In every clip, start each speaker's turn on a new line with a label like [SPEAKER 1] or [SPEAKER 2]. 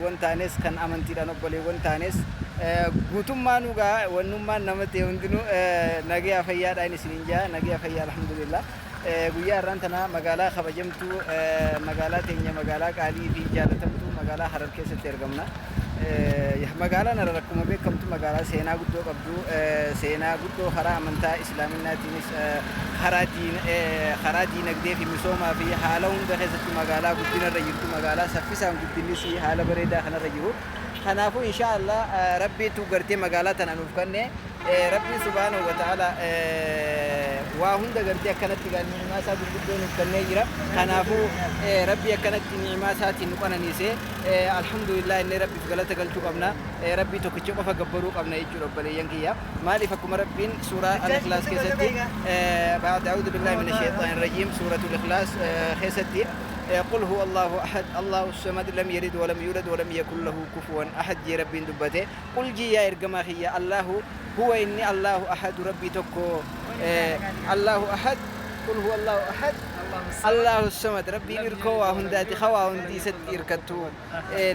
[SPEAKER 1] wan taanes kan amantiidhaan obboleewwan taanes guutummaan dhugaa wannummaan nama ta'e hundinuu nagaya fayyaadhaan isiniin jaa nagaya fayyaa alhamdulillah guyyaa har'aan tana magaalaa kabajamtuu magaalaa teenya magaalaa qaalii fi jaalatamtuu magaalaa harar keessatti argamna. Magaalaan harar akkuma beekamtu magaalaa seenaa guddoo qabdu seenaa guddoo karaa amantaa Islaaminaatiinis karaa diinagdee fi misoomaa fi haala hunda keessatti magaalaa guddina irra jirtu, magaalaa saffisaan guddinnis haala bareedaa kana irra jiru. Kanaafuu inshaa Allaah Rabbiitu gartee magaalaa tana nuuf kanne. Rabbiin subhaanahu wa ta'aalaa waa hunda gartee akkanatti egaa ni'imaa isaa gurguddoo nuuf kennee jira. Kanaafuu Rabbii akkanatti ni'imaa isaatiin nu qananiise alhamdulillah jennee Rabbiif galata galchuu qabna. Rabbii tokkicha qofa gabbaruu qabna jechuudha obboleeyyan kiyya. Maaliif akkuma Rabbiin suuraa Al-Ikhlaas keessatti, ba'da a'uudu billaahi mina sheyxaani rajiim, suuratul Ikhlaas keessatti, Qul huwa Allaahu ahad, Allaahu samad, lam yalid walam yuulad walam yakun lahu kufuwan ahad jee Rabbiin dubbate, Qul jii yaa ergamaa kiyya, Allaahu, huwa inni Allaahu ahadu Rabbii tokko, Allaahu ahad, Qul huwa Allaahu ahad, Allaahu samad, Rabbiin irkoo waa hundaati ka waa hundi isatti irkattu.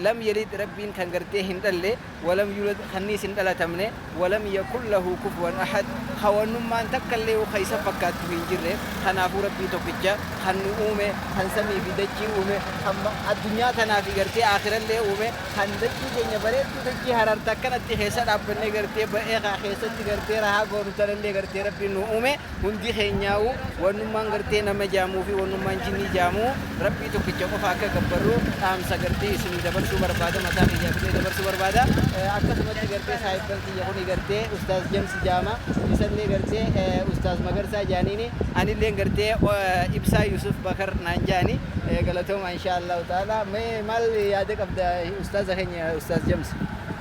[SPEAKER 1] Lam yalid Rabbiin kan gartee hin dhalle, walam yulad kanniis hin dhalatamne, walam yakun lahu kufuwan ahad hawannummaan takkallee'uu ka isa fakkaattu hin jirre. Kanaafuu Rabbii tokkicha kan nu uume, kan samii fi dachii uume, kan addunyaa tanaa fi gartee aakhirallee uume, kan dachii teenya bareedduu dachii Harar ta akkanatti keessa dhaabbannee gartee ba'ee keessatti gartee rahaa goonu tanallee gartee Rabbiin nuu uume. Hundi keenyaa'uu wannummaan gartee nama jaamuu fi wannummaan jinnii jaamuu Rabbii tokkicha qofa akka gabbarru dhaamsa gartee isinii dabarsuu barbaada mataa kiyyaaf illee dabarsuu barbaada. Akkasumatti gartee saahibban kiyya kuni gartee ustaaz Jamsi jaama isallee gartee ustaaz Magarsaa jaaniini anilleen gartee Ibsaa Yusuf Bakar naan jaani. Galatoomaa inshaa Allaahu ta'aalaa. Mee maal yaada qabda ustaaza keenya ustaaz Jamsi?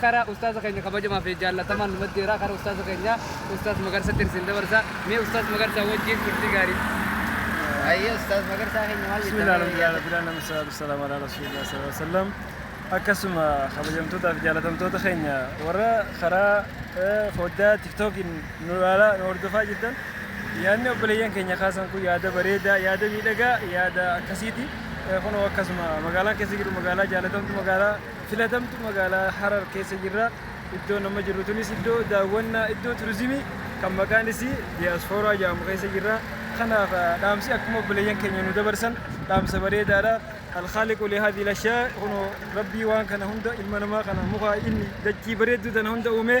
[SPEAKER 2] Kara ustaaza keenya kabajamaa fi jaallatamaan nu maddeera. Kara ustaaza keenya ustaaz Magarsatti isin dabarsa. Mee ustaaz Magarsaa wajjin turtii gaarii. Ayyee
[SPEAKER 1] ustaaz Magarsaa keenya maal jettan? Bismillah alhamdulillah rabbil
[SPEAKER 3] alamin salatu wassalamu ala rasulillah sallallahu alaihi wasallam. Akkasuma kabajamtootaa fi jaalatamtoota keenya warra karaa eh, foddaa tiktookiin nu ilaalaa nu hordofaa jirtan yaadni obboleeyyan keenya kaasan kun yaada bareedaa yaada miidhagaa yaada akkasiiti. Eh, Kunoo akkasuma magaalaa keessa jiru magaalaa jaalatamtu magaalaa filatamtu magaalaa Harar keessa jirra. Iddoon amma jirru tunis iddoo daawwannaa iddoo turizimii kan maqaan isii diyaasfooraa jedhamu keessa jirra. Kanaaf dhaamsi akkuma obboleeyyan keenya nu dabarsan dhaamsa bareedaadha. Alkhaaliqu lihaadii lashaa kunoo rabbii waan kana hunda ilma namaa kana mukaa inni dachii bareedduu tana hunda uumee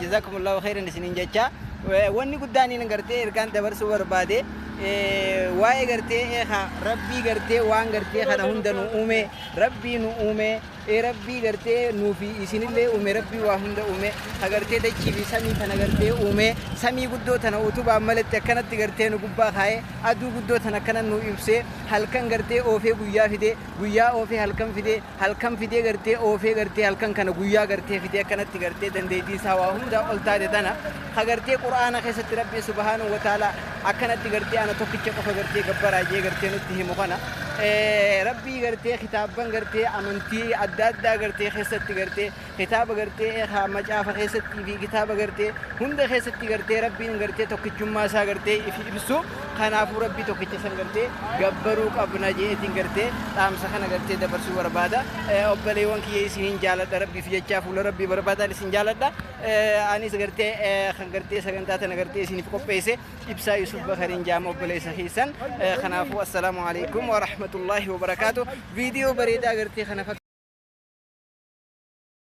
[SPEAKER 1] Jazaakumullaahu kheyran isiniin jechaa wanni guddaa aniin gartee ergaan dabarsuu barbaade waa'ee gartee eeka rabbii gartee waan gartee kana hunda nu uume rabbii nu uume rabbii gartee nuufi isinillee uume rabbii waa hunda uume ka gartee dachii fi samii tana gartee uume samii guddoo tana utubaan malatti akkanatti gartee nu gubbaa kaa'e aduu guddoo tana akkana nu ibse halkan gartee oofee guyyaa fide guyyaa oofee halkan fide halkan fidee gartee oofee gartee halkan kana guyyaa gartee fidee akkanatti gartee dandeettii isaa waa hundaa ol taate tana ka gartee qur'aana keessatti rabbii subhaanahu wa ta'ala akkanatti gartee ana tokkicha qofa gartee gabbaraa jee gartee nutti himu kana rabbii gartee kitaabban gartee amantii adda addaa gartee keessatti gartee Kitaaba gartee haa macaafa keessatti fi kitaaba gartee hunda keessatti gartee rabbiin gartee tokkichummaa isaa gartee ifi ibsu kanaafuu rabbii tokkicha san gartee gabbaruu qabna jeetiin gartee dhaamsa kana gartee dabarsuu barbaada obbaleewwan kiyya isiniin jaaladha rabbiif jechaa fuula rabbii barbaadaan isin jaaladha anis gartee kan gartee sagantaa tana gartee isiniif qopheesse ibsaa Yusuf Bakariin jaama obboleessa keessan kanaafuu assalaamu alaikum wa rahmatullaahi wa barakaatu viidiyoo bareedaa gartee kana